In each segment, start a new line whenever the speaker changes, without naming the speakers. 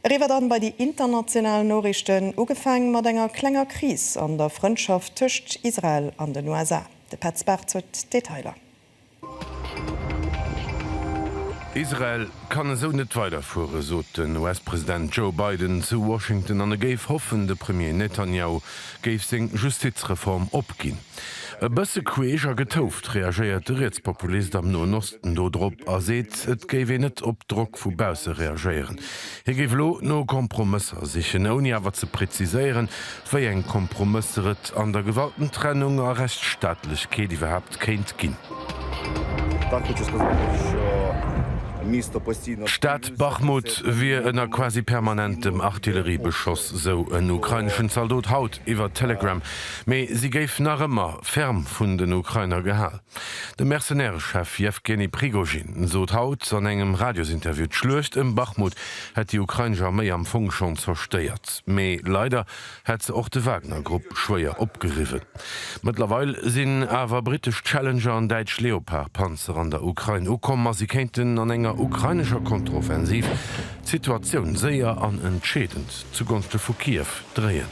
Eriwwer dann bei déi international Noriichten, ugefaang mat enger klenger Kris an der Frëndschaft tëscht Israel an den USA. De Petz Bartz huet d'Detailer.
Israel kann esou net weiderfueren, sot den US-President Joe Biden zu Washington an e géif hoffen, de Premier Netanjahu géif seng Justizreform opginn. E bësse queesch a getouft reagéiert de Rietspopulist am Noen Osten do drop a seet, et géif een net op Drock vu bausse reagéieren. Hie géif elo no Kompromësser sichen, ouni awer ze präziséieren, wéi eng Kompromësser et an der Gewaltentrennung a Rechtsstaatlechkeet iwwerhaapt kéint ginn. D'Stad Bachmut wier ënner quasi permanentem Artilleriebeschoss, sou en ukraineschen Zaldot haut iwwer Telegram. Mee si géif nach ëmmer ferm vun den Ukrainer gehal. De Mercenaireschef Jewgeni Prigozhin sot haut an engem Radiosinterview, d'Schluecht ëm Bachmut hätt déi ukrainesch Arméi am Fong schonn zerstéiert, mee leider hätt se och de Wagner-Grupp schwéier opgeriwwen. Mëttlerweil sinn awer brittesch Challenger an däitsch Leopard-Panzer an der Ukrain ukomm a si kéinten an enger ukrainescher Kontroffensiv d'Situatioun séier an entscheedend zu Gonste vu Kiew dréien.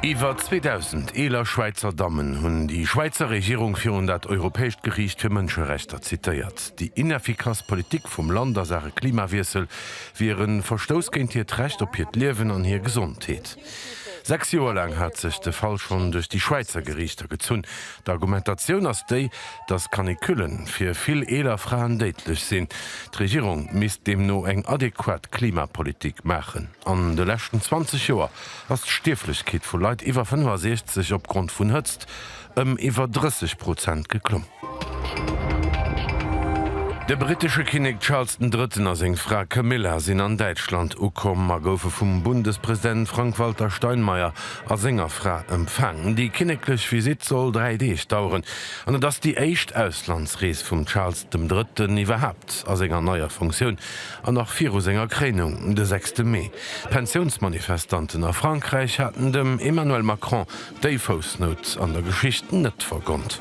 Iwwer 2.000 eeler Schwäizer Dammen hunn déi Schwäizer Regierung virun dat Europäescht Geriicht fir Mënscherechter zitéiert. Déi ineffikass Politik vum Land a Saache Klimawiessel wier e Verstouss géint hiert Recht op hiert Liewen an hir Gesondheet. Sechs Joer laang hat sech de Fall schonn duerch déi Schwäizer Geriichter gezunn, D'Argumentatioun ass déi, datt Canicullen fir vill eeler Fraen déidlech sinn. D'Regierung misst deemno eng adequat Klimapolitik maachen. An de leschten 20 Joer ass d'Stierflechkeet vu Leit iwwer 65 opgrond vun Hëtzt ëm iwwer 30 Prozent geklomm. De brittesche Kinnek Charles den Drëtten a seng Fra Camilla sinn an Däitschland ukomm a goufe vum Bundespräsident Frank-Walter Steinmeier a senger Fra empfaangen. Déi kinneklech Visitt soll dräi Deeg daueren an et ass déi éischt Auslandsrees vum Charles dem Drëtten iwwerhaapt a senger neier Funktioun an nach viru senger Kréinung de sechste Mee. D'Pensiounsmanifestanten a Frankräich haten dem Emmanuel Macron déi Foussnout an der Geschicht net vergonnt.